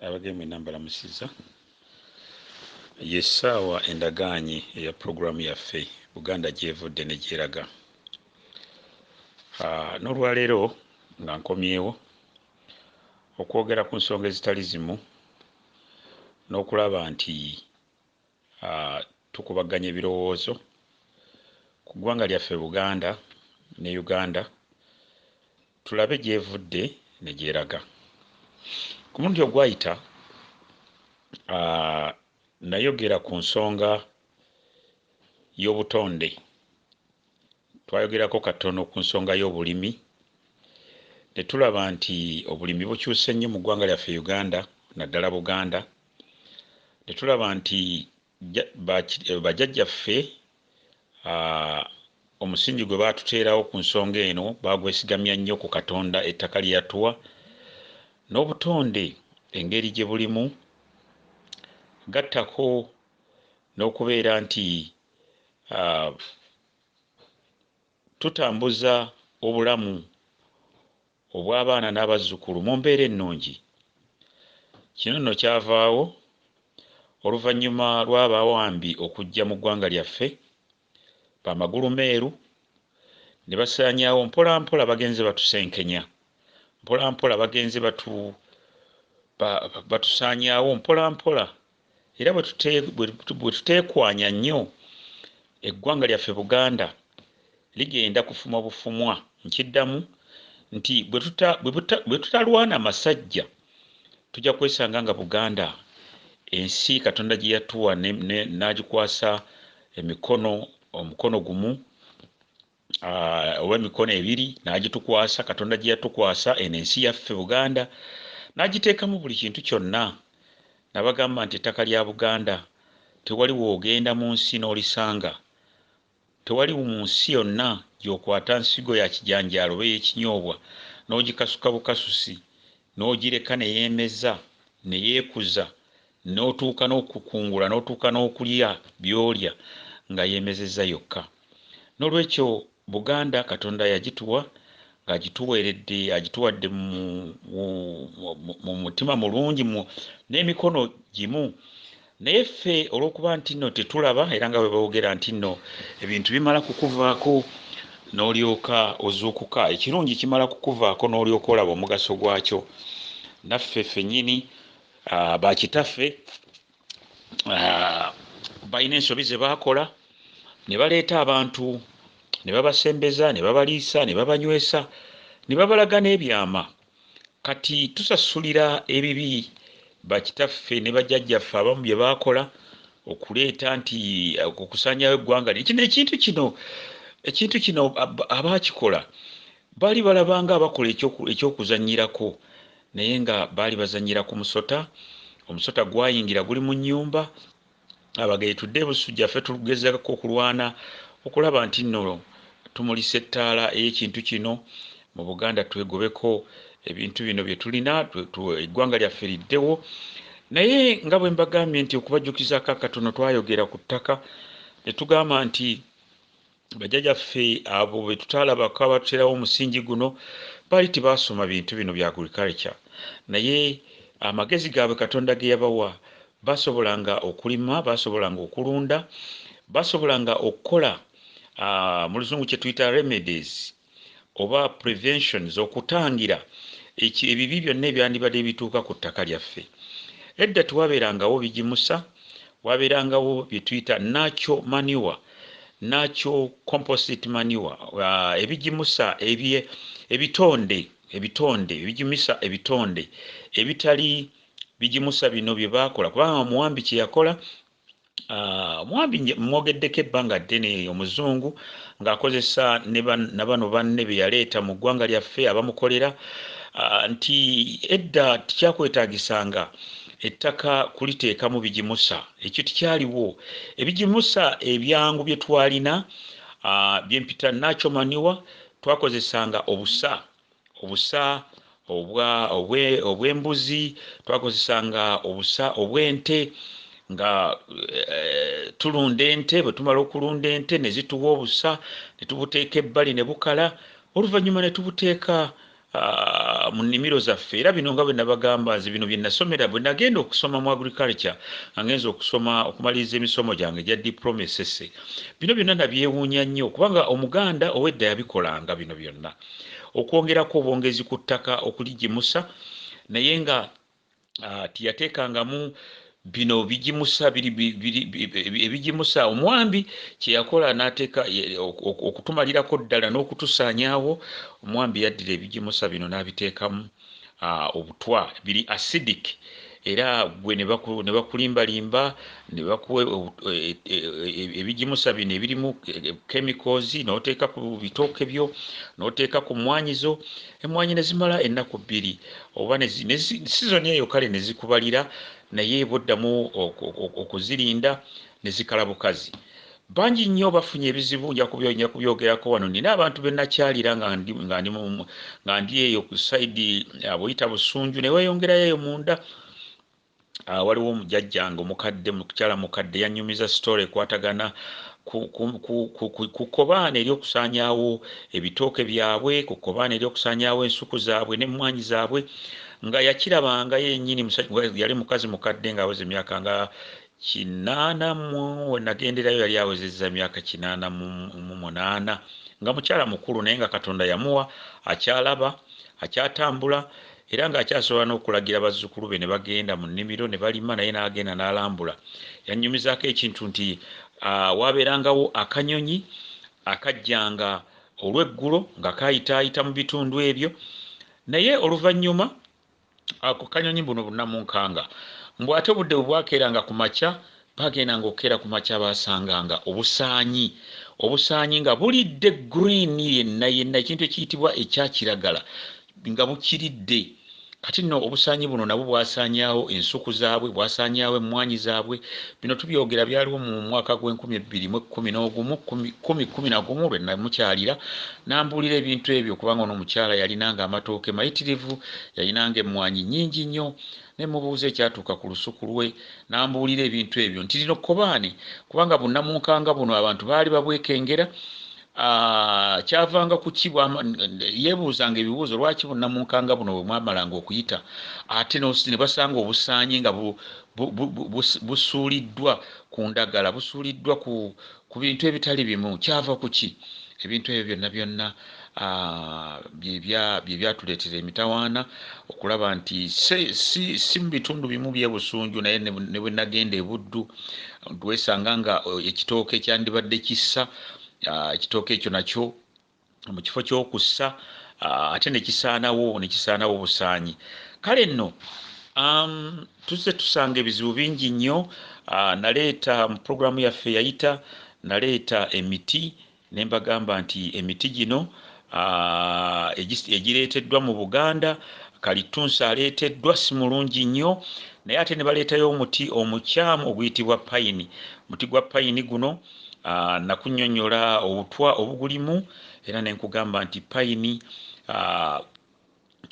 Abageni mwenna mbalamusizza. Y'essaawa endagaanye eya pulogulaamu yaffe Buganda gy'evudde ne gy'eraga. Ah, n'olwaleero nga nkomyewo okwogera ku nsonga ezitali zimu n'okulaba nti Uh, tukubaganya ebirowoozo ku ggwanga lyaffe Buganda ne Uganda tulabe gyevudde ne gyeraga. Ku mulundi ogwayita uh, nayogera ku nsonga y'obutonde twayogerako katono ku nsonga y'obulimi ne tulaba nti obulimi bukyuse nnyo mu ggwanga lyaffe uganda naddala buganda ne tulaba nti bajjajjaffe omusingi gwe baatuteerawo ku nsonga eno baagwesigamya nnyo ku Katonda, ettaka lye yatuwa n'obutonde engeri gye bulimu, gattako n'okubeera nti tutambuza obulamu obw'abaana n'abazzukulu mu mbeera ennungi. Kino nno kyavaawo oluvannyuma lw'abawambi okujja mu ggwanga lyaffe, ba magulu meeru, ne basaanyaawo mpola mpola bagenze batusenkenya, mpola mpola bagenze batu, ba, batusaanyaawo mpola mpola. era bwe tuteekwanya nnyo eggwanga lyaffe Buganda ligenda kufumwa bufumwa. Nkiddamu nti bwe tutalwana masajja tujja kwesanga nga Buganda ensi Katonda gye yatuwa n'agikwasa emikono omukono gumu uh, oba emikono ebiri n'agitukwasa katonda gye yatukwasa eno ensi yaffe buganda n'agiteekamu buli kintu kyonna nabagamba nti ettaka lya buganda tewali woogenda mu nsi n'olisanga tewali mu nsi yonna gy'okwata nsigo ya kijanjaalo oba eyekinyoobwa n'ogikasuka bukasusi n'ogireka ne yeemeza ne yeekuza n'otuuka n'okukungula n'otuuka n'okulya by'olya nga yeemezezza yokka. Noolwekyo Buganda Katonda yagituwa ng'agituweeredde, agituwadde mu, mu, mu, mu mutima mulungi, mu, n'emikono gimu. Naye ffe olw'okuba nti nno tetulaba era nga bwe boogera nti nno ebintu bimala kukuvaako n'olyoka ozuukuka, ekirungi kimala kukuvaako n'olyoka olaba omugaso gwakyo, naffe ffennyini Ah, bakitaffe ah, balina ensobi ze baakola ne baleeta abantu ne babasembeza ne babaliisa ne babanywesa ne babalaga n'ebyama kati tusasulira ebibi bakitaffe ne bajjajjaffe abamu bye baakola okuleeta nti ah, okusanyawo eggwanga kino ekintu kino ekintu kino abaakikola baali balabanga abakola ekyokuzanyirako Naye nga baali bazannyira ku musota. Omusota gwayingira guli mu nnyumba. Abageri tudde e Busujja ffe tugezaako okulwana okulaba nti nno tumulisa ettaala ey'ekintu kino mu Buganda twegobeko ebintu bino bye tulina eggwanga lyaffe liddewo. Naye nga bwe mbagambye nti okubajjukizaako akatono twayogera ku ttaka ne tugamba nti Bajjaja ffe abo betutaalabako abatuteerawo omusingi guno baali tebaasoma bintu bino bya agriculture naye amagezi gaabwe Katonda ge yabawa basobolanga okulima, basobolanga okulunda, basobolanga okukola mu luzungu kye tuyita remedies oba preventions okutangira eki ebibi byonna ebyandibadde bituuka ku ttaka lyaffe edda tewabeerangawo bigimusa wabeerangawo byetuyita nacho manure nacho composite manure uh, ebigimusa ebye ebitonde ebitonde ebigimisa ebitonde ebitali bigimusa bino bye baakola kubanga omuwambi kye yakola Ah, mwambi mwogeddeko ebbanga ddene omuzungu ng'akozesa na bano banne be yaleeta mu ggwanga lyaffe abamukolera ah, nti edda tikyakwetagisanga ettaka kuliteekamu bigimusa ekyo tikyaliwo ebigimusa ebyangu bye twalina ah, byempita nacho maniwa twakozesanga obusa obusa obwa obwe obw'embuzi twakozesanga obusa obw'ente nga eh, tulunda ente bwe tumala okulunda ente ne zituwa obusa ne tubuteeka ebbali ne bukala oluvannyuma ne tubuteeka ah, mu nnimiro zaffe era bino nga bwe nabagamba nze bino bye nasomera bwe nagenda okusoma mu agriculture nga ngenza okusoma okumaliriza emisomo gyange egya diploma esese bino byonna nabyewuunya nnyo kubanga omuganda ow'edda yabikolanga bino byonna okwongerako obwongezi ku ttaka okuligimusa naye nga uh, tiyateekangamu bino bigimusa ebigimusa omwambi kyeyakola nateeka okutumalirako ddala n'okutusaanyaawo omwambi yaddira ebigimusa bino n'abiteekamu Ah, obutwa biri acidic era gwe nebakulimbalimba nebakuwa e, e, e, ebigimusa bino ebirimu chemicals noteeka ku bitooke byo noteeka ku mmwanyi zo emmwanyi nezimala ennaku bbiri oba sizoni eyo kale nezikubalira naye bwoddamu okuzirinda nezikala bukazi Bangi nnyo bafunye ebizibu, nja kubyogerako wano. Nnina abantu be nnakyalira nga ndi, nga ndi, nga ndi eyo ku sayidi abuyita ah, busunju, ne weeyongerayo eyo munda. Ah, waliwo omujajjange omukadde, mukyala mukadde, yannyumiza sitoola ekwatagana ku kkobaane ery'okusaanyaawo ebitooke byabwe ku kkobaane ery'okusaanyaawo ensuku zaabwe n'emmwaanyi zaabwe nga yakirabanga yennyini yali mukazi mukadde ng'aweza emyaka nga kinaana mu we nagenderayo yali awezezza emyaka kinaana mu mu munaana nga mukyala mukulu naye nga Katonda yamuwa akyalaba, akyatambula era ng'akyasobola n'okulagira bazzukulu be ne bagenda mu nnimiro ne balima naye n'agenda n'alambula. Yannyumizaako ekintu nti ah, waabeerangawo akanyonyi akajjanga olweggulo nga kaayitaayita mu bitundu ebyo naye oluvannyuma Ako kanyonyi mbuno bunamunkanga. Mbu ate obudde bwebwakeeranga ku makya, baagendanga okukeera ku makya baasanganga obusaanyi. Obusaanyi nga bulidde green yenna yenna, ekintu ekiyitibwa ekya kiragala nga bukiridde. Kati nno obusaanyi buno nabwo bwasaanyaawo ensuku zaabwe, bwasaanyaawo emmwaanyi zaabwe, Bino tubyogera byaliwo mu mwaka gw'enkumi ebbiri mu ekkumi n'ogumu kumi kumi na gumu lwe namukyalira n'ambuulira ebintu ebyo kubanga ono omukyala yalinanga amatooke mayitirivu yalinanga emmwanyi nnyingi nnyo ne mubuuza ekyatuuka ku lusuku lwe n'ambuulira ebintu ebyo nti lino kkobaane kubanga bunnamunkanga buno abantu baali babwekengera Ah, kyavanga kuki yebuuzanga ebibuuzo lwaki bunnamunkanga buno bwe mwamalanga okuyita ate ne basanga obusaanyi nga busuuliddwa ku ndagala busuuliddwa ku ku bintu ebitali bimu kyava ku ki ebintu ebyo byonna byonna bye byatuleetera emitawaana okulaba nti si mu bitundu bimu bye busunju naye ne bwe nagenda e buddu twesanga nga ekitooke kyandibadde kissa ekitooke ekyo nakyo mu kifo ky'okussa ate nekisaanawo nekisaanawo busaanyi kale nno um, tuzze tusanga ebizibu bingi nnyo naleeta mu puroguramu yaffe yayita naleeta emiti ne mbagamba nti emiti gino egireeteddwa mu buganda kalittunsi aleeteddwa si mulungi nnyo naye ate ne baleetayo omuti omukyamu oguyitibwa payini omuti gwa payini guno Ah, nakunyonyola obutwa obugulimu era nenkugamba nti payini ah,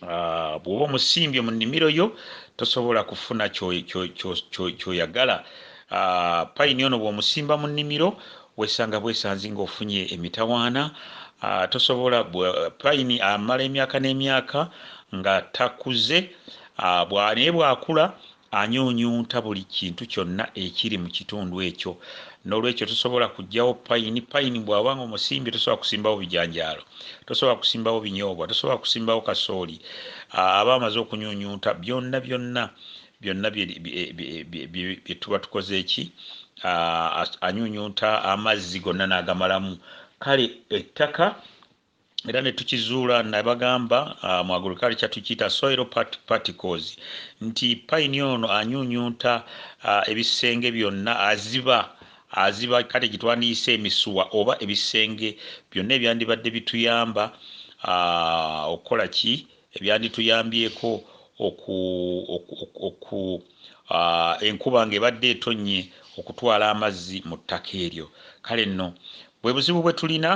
ah, bwoba omusimbye mu nimiro yo tosobola kufuna kyoyagala payini ono bwomusimba mu nimiro wesanga bwesanzi nga ofunye emitawaana tosobola payini amala emyaka n'emyaka nga takuze naye bwakula anyuunyunta buli kintu kyonna ekiri mu kitundu ekyo n'olwekyo tosobola kugyawo payini payini bw'aba nga omusimbi tosobola kusimbawo bijanjaalo tosobola kusimbawo binyoobwa tosobola kusimbawo kasooli aba amaze okunyuunyunta byonna byonna byonna bye tuba tukoze eki anyuunyunta amazzi gonna n'agamalamu kale ettaka era ne tukizuula nabagamba uh, mu agriculture tukiyita soil part particles nti payini ono anyunyunta uh, ebisenge byonna aziba aziba kale gyetwandiyise emisuwa oba ebisenge byonna ebyandibadde bituyamba uh, okukola ki ebyandituyambyeko oku, oku, oku, oku uh, enkuba ngaebadde etonnye okutwala amazzi mu ttaka eryo kale nno bwe buzibu bwe tulina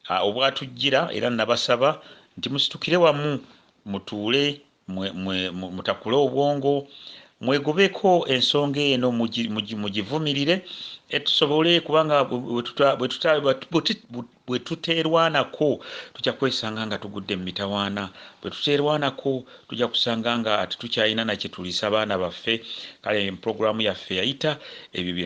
A, obwatujjira, era nnabasaba nti musitukire wamu, mutuule, mwe, mwe, mu, mutakule obwongo, mwegobeko ensonga eno, mugi, mugi, mugivumirire, e, tusobole, kubanga bwe tuta, bwe tuta, bwe tuteerwanako tujja kwesanga nga tugudde mu mitawaana, bwe tuteerwanako tujja kusanga nga tetukyalina na kye tuliisa baana baffe. Kale, programu yaffe yayita ebyo bye.